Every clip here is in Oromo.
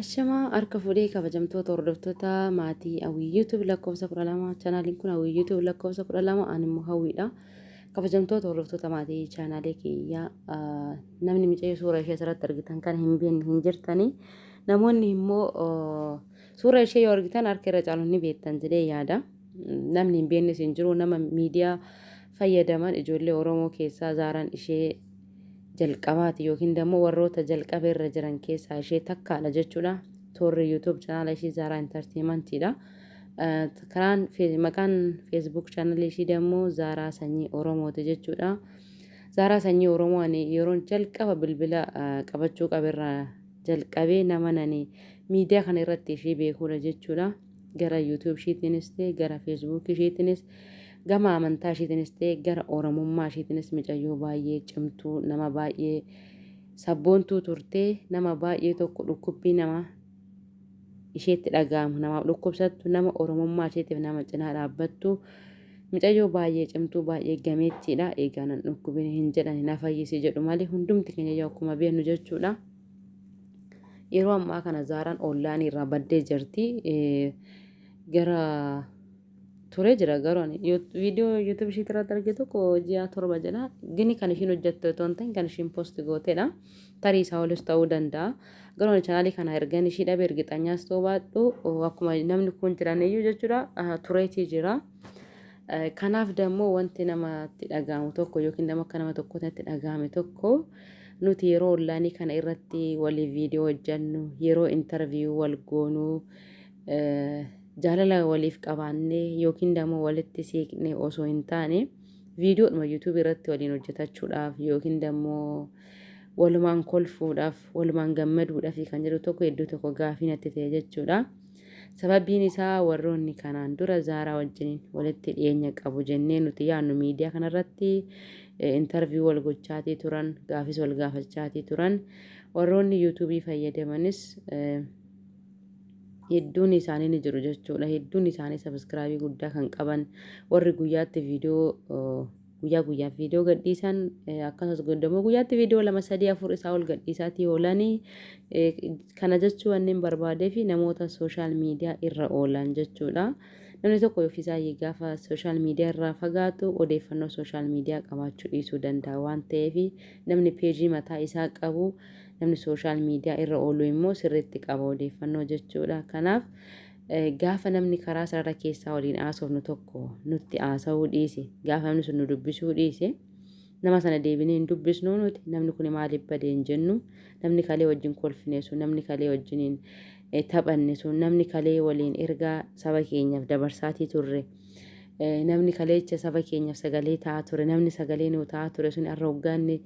Ashamaa harka fuudhee kabajamtoota hordoftoota maatii hawwii YouTube lakkoofsa 12 chaanaaliin kun hawwii YouTube lakkoofsa 12 ani immoo hawwiidha. Kabajamtoota hordoftoota maatii chaanaalee kiyyaa namni micayyoo suura ishee asirratti argitan kan hin beekne hin jirtani. Namoonni immoo suura ishee yoo argitan harka irra caalu ni beektan jedhee yaada. Namni hin beeknes hin jiru nama miidiyaa fayyadaman ijoollee Oromoo keessaa zaaraan ishee jalqabaati yookiin dammoo warroota jalqaba irra jiran keessaa ishee takkaadha jechuudha. Toorri YouTube channel ishii Zaaraa Entertainment dha. Karaan maqaan Facebook channel ishii dammoo Zaaraa Sanyii Oromooti jechuudha. Zaaraa Sanyii Oromoo ani yeroon jalqaba bilbila qabachuu qaberraa jalqabee nama nani miidiyaa kana irratti ishee beekuudha jechuudha. Gara YouTube ishiitiinis ta'e gara Facebook ishiitiinis gama amantaa ishiitiinis ta'e gara Oromummaa ishiitiinis micayyoo baay'ee cimtuu nama baay'ee sabboontuu turtee nama baay'ee tokko dhukkubbii nama isheetti dhaga'amu namaaf dhukkubsattu nama Oromummaa isheetiif nama cinaa dhaabbattu micayyoo baay'ee cimtuu baay'ee gameettiidha eegaa nan dhukkubin hin jedhan hin fayyisi jedhu malee hundumti keenya akkuma beeknu jechuudha. Yeroo ammaa kana Zaaraan onlaayinii irraa baddee jirti. Eh, Gara turee jira garuu ani Yu- viidiyoo yuutuub ishiit irratti arge tokko ji'a torba jedha. Gini kan ishiin hojjette otoo hin ta'in kan ishiin post gootedha. Tarii isaa olis ta'uu danda'a. Garuu ani chaanaalii kana ergan ishii dhabe ergixanyaas ta'uu baadhu oh, akkuma namni kun jiraniyyuu jechuudha ah, tureetii jira. Eh, Kanaaf dammoo wanti namatti dhaga'amu tokko yookiin nama akka nama tokkootti natti dhaga'ame tokko Nuti yeroo ollaanii kana irratti waliif viidiyoo hojjannu, yeroo interview wal goonu, jaalala waliif qabaanne yookiin dammoo walitti siiqne osoo hin taane viidiyoodhuma yuutuubii irratti waliin hojjetachuudhaaf yookiin dammoo walumaan kolfuudhaaf, walumaan gammaduudhaaf kan jedhu tokko iddoo tokko gaafii natti ta'e jechuudha. Sababiin isaa warroonni kanaan dura Zaaraa wajjiniin walitti dhiyeenya qabu jennee nuti yaannu miidiyaa kanarratti intarviyuu wal gochaatii turan, gaafis wal gaafachaatii turan. Warroonni yuutuubii fayyadamanis hedduun isaanii ni jiru jechuudha. Hedduun isaanii sabiskiraabii guddaa kan qaban warri guyyaatti viidiyoo Guyyaa guyyaan viidiyoo gadhiisan akkasumas goddamoo guyyaatti viidiyoo lama sadii afur isaa ol gadhiisaatii oolanii kana jechuu wanneen barbaadee fi namoota sooshaal miidiyaa irra oolan jechuudha. Namni tokko ofiisaa gaafa sooshaal miidiyaa irraa fagaatu odeeffannoo sooshaal miidiyaa qabaachuu dhiisuu danda'a waan ta'eef namni peejii mataa isaa qabu namni sooshaal miidiyaa irra oolu immoo sirriitti qaba odeeffannoo jechuudha. Kanaaf Gaafa namni karaa sarara keessaa waliin haasofnu tokko nutti haasa'uu dhiise, gaafa namni sun nu dubbisuu dhiise, nama sana deebinee hin dubbisnuu nuti, namni kuni maaliif bade hin jennu, namni kalee wajjin kolfine sun, namni kalee wajjiniin eh, taphanne sun, namni kalee waliin ergaa saba keenyaaf dabarsaatii turre, eh, namni kaleecha saba keenyaaf sagalee ta'aa ture, namni sagalee nuu ta'aa ture sun har'a hoggaanni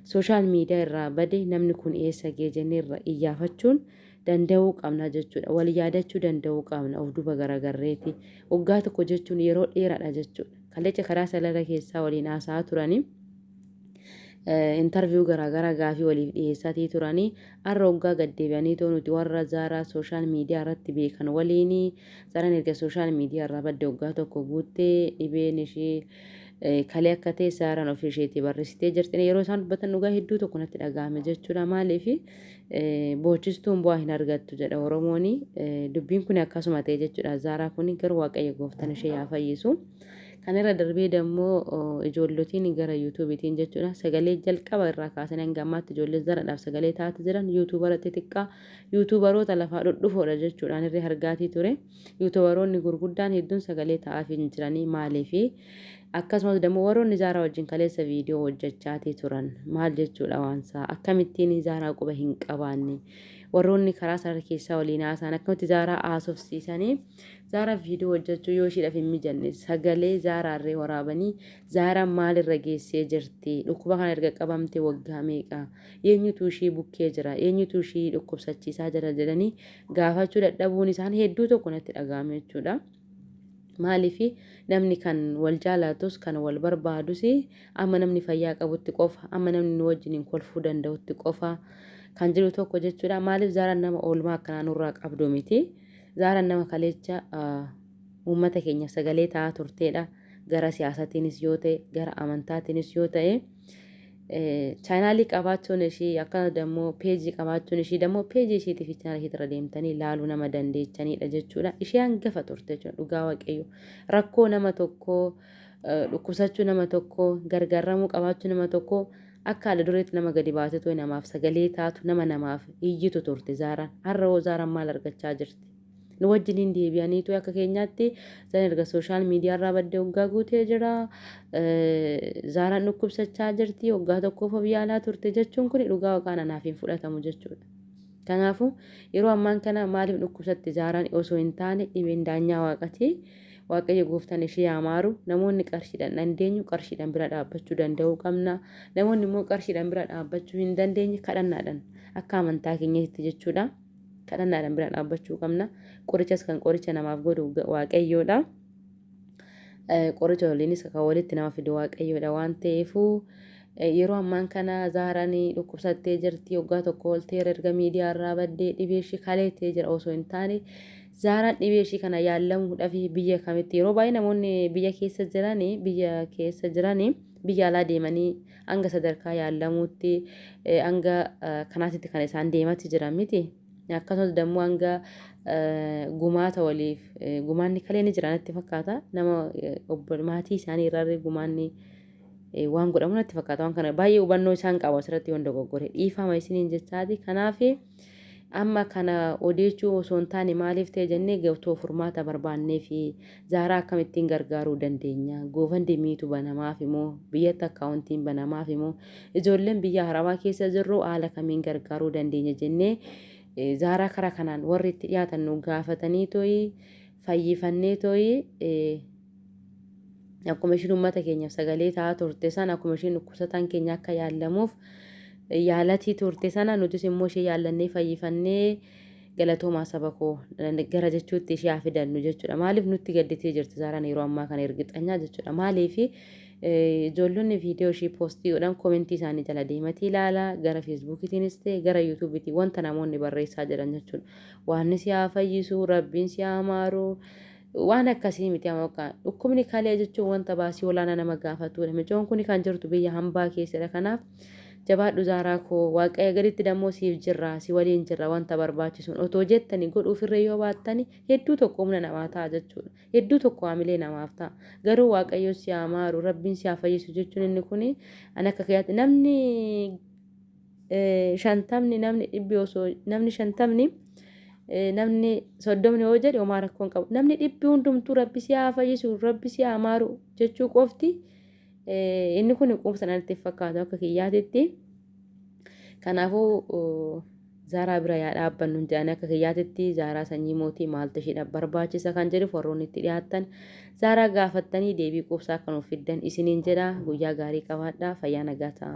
sooshaal miidiyaa irraa bade namni kun eessa ga'e jennee irra iyyaafachuun danda'uu qabna jechuudha. Wal yaadachuu danda'uu qabna of duuba garagarreeti. Waggaa tokko jechuun yeroo dheeraadha jechuudha. Kallecha karaa salala keessaa waliin haasa'aa turanii intarviyuu garaagaraa gaafii waliif dhiyeessaatii turanii har'a waggaa gaddeebi'anii too nuti warra zaaraa sooshaal miidiyaa irratti beekan waliin zaaraan erga sooshaal miidiyaa irraa badde waggaa tokko guuttee dhibeen ishee kalee akka ta'e zaaraan ofii isheetii barreessitee jirti yeroo isaan dubbatan dhugaa hedduu tokko natti dhaga'ame jechuudha maaliif boochistuun bu'aa hin argattu jedha Oromooni. Dubbiin kun akkasuma ta'e jechuudha. Zaaraa kun gara Waaqayyo gooftan ishee yaa fayyisu. Kan irra darbee dammoo ijoollotiin gara yuutuubiitiin jechuudha. Sagalee jalqaba irraa kaasanii hanga ammaatti ijoolleen zaraadhaaf sagalee taate jiran yuutuubara xixiqqaa yuutuubaroota lafaa dhudhufoodha jechuudhaan irree hargaatii ture. Yuutubaroonni gurguddaan hedduun sagalee ta'aafii hin jiranii maaliifi? Akkasumas dammoo warroonni Zaaraa wajjin kaleessa viidiyoo hojjachaatii turan maal jechuudha waansaa? Akkamittiin Zaaraa quba hin qabaanne? Warroonni karaa sarara keessaa waliin haasaan akkamitti Zaaraa haasofsiisanii? Zaaraa viidiyoo hojjachuu yoo ishiidhaaf hin mijanne sagalee Zaaraarree waraabanii Zaaraan maalirra geessee jirti? Dhukkuba kana erga qabamte waggaa meeqa? Eenyutu ishii bukkee jira? Eenyutu ishii dhukkubsachiisaa jira jedhanii gaafachuu dadhabuun isaan hedduu tokko natti dhaga'ame jechuudha. Maaliif namni kan wal jaalatus kan wal barbaadus amma namni fayyaa qabutti qofa amma namni nu wajjiniin kolfuu danda'utti qofa kan jiru tokko jechuudha. Maaliif zaaraan nama oolmaa akkanaa nurraa qabdu miti. Zaaraan nama kaleecha uummata keenya sagalee ta'aa turteedha. Gara siyaasatiinis yoo ta'e gara amantaatiinis yoo ta'e. Chaanaalii qabaachuun ishii akkana dammoo peejii qabaachuun ishii dammoo peejii ishiitii fi chaanaalii ishiitirra deemtanii laaluu nama dandeechaniidha jechuudha. Ishee hangafa turte jechuudha dhugaa waaqayyo. Rakkoo nama tokkoo dhukkubsachuu nama tokkoo gargaaramuu qabaachuu nama tokkoo akka ala dureetti nama gadi baasee namaaf sagalee taatu nama namaaf iyyitu turte zaaraan. Har'a hoo zaaraan maal argachaa jirti? nu wajjin hin deebi'aniitu akka keenyaatti zan erga sooshaal miidiyaarraa badde waggaa guutee jira zaaraan dhukkubsachaa jirti waggaa tokkoof of yaalaa turte jechuun kun dhugaa waqaan anaaf hin fudhatamu jechuudha. Kanaafuu yeroo ammaan kana maaliif dhukkubsatti zaaraan osoo hin taane dhibeen daanyaa waaqatii waaqayyo gooftaan ishee yaa maaru namoonni qarshiidhaan dandeenyu qarshiidhaan bira dhaabbachuu danda'uu qabna namoonni immoo qarshiidhaan bira dhaabbachuu hin dandeenye kadhannaadhaan akka amantaa keenyatti jechuudha. Kadhannaadhaan bira dhaabbachuu qabna. Qorichas kan qoricha namaaf godhu waaqayyoodha. Qoricha waliinis kan walitti nama fidu waaqayyoodha waan ta'eefuu yeroo ammaan kana zaaraan dhukkubsattee jirti waggaa tokko olteera erga miidiyaa irraa baddee dhibee ishii kaleettee jira osoo hin taane zaaraan dhibee ishii kana yaallamuudhaaf biyya kamitti yeroo baay'ee namoonni biyya keessa jiranii biyya keessa jiranii biyya alaa deemanii hanga sadarkaa yaallamuutti hanga kanaatitti kan isaan deematti jiran miti. Akkasumas dammoo hanga gumaata waliif gumaanni kalee ni jira natti fakkaata. Nama maatii isaanii irraa gumaanni waan godhamu natti fakkaata. Waan kana baay'ee hubannoo isaan qabu asirratti waan dogoggore dhiifama isiniin jechaati. Kanaaf. Amma kana odeechuu osoo hin taane maaliif ta'e jennee gatoo furmaata barbaannee fi Zaaraa akkamittiin gargaaruu dandeenya? Goofandimiitu banamaaf moo? Biyyatti akkaawuntiin banamaaf moo? Ijoolleen biyya Arabaa keessa jirru haala kamiin gargaaruu dandeenya jennee Zaaraa kara kanaan warri itti dhiyaatan nu gaafatanii tooyi fayyifannee tooyi akkuma ishiin uummata keenyaaf sagalee ta'aa turte sana akkuma ishiin dhukkubsataan keenya akka yaallamuuf yaalatii turte sana nutis immoo ishee yaallannee fayyifannee galatoomaa saba koo gara jechuutti ishee haa fidannu jechuudha. Maaliif nutti gadditee jirti Zaaraan yeroo ammaa kana ergixanyaa jechuudha. Maaliif ijoollonni viidiyoo ishee poostii godhan koomentii isaanii jala deematii ilaala gara feesbuukitiinis ta'e gara yuutuubiitiin wanta namoonni barreessaa jiran jechuudha. Waanni si haa fayyisu, rabbiin si haa maaru. Waan akkasii miti amokka. Dhukkubni kalee jechuun wanta baasii olaanaa nama gaafatudha. Micoon kuni kan jirtu biyya hambaa keessadha. Kanaaf jabaadhu Zaaraa koo. Waaqayyo gaditti dammoo siif jirra. Si waliin jirra wanta barbaachisuun. Otoo jettani godhuufirree yoo baattani hedduu tokko humna namaa ta'a jechuudha. Hedduu tokko haamilee namaaf ta'a. Garuu Waaqayyo si haa maaru, Rabbiin si haa fayyisu jechuun inni kuni an akka kiyyaatti namni shantamni namni dhibbi osoo namni shantamni namni soddomni yoo jedhe homaa rakkoo hin qabu namni dhibbi hundumtuu rabbi si haa fayyisu rabbi si haa maaru jechuu qofti inni kun quubsa natti fakkaatu akka kiyyaatitti kanaafuu zaaraa bira yaa dhaabbannu hin jedhan akka kiyyaatitti zaaraa sanyii mootii maaltu ishiidhaaf barbaachisa kan jedhu warroonni itti dhiyaattan zaaraa gaafattanii deebii quubsaa akka nuuf fiddan isiniin jedha guyyaa gaarii qabaadhaa fayyaa nagaa ta'a.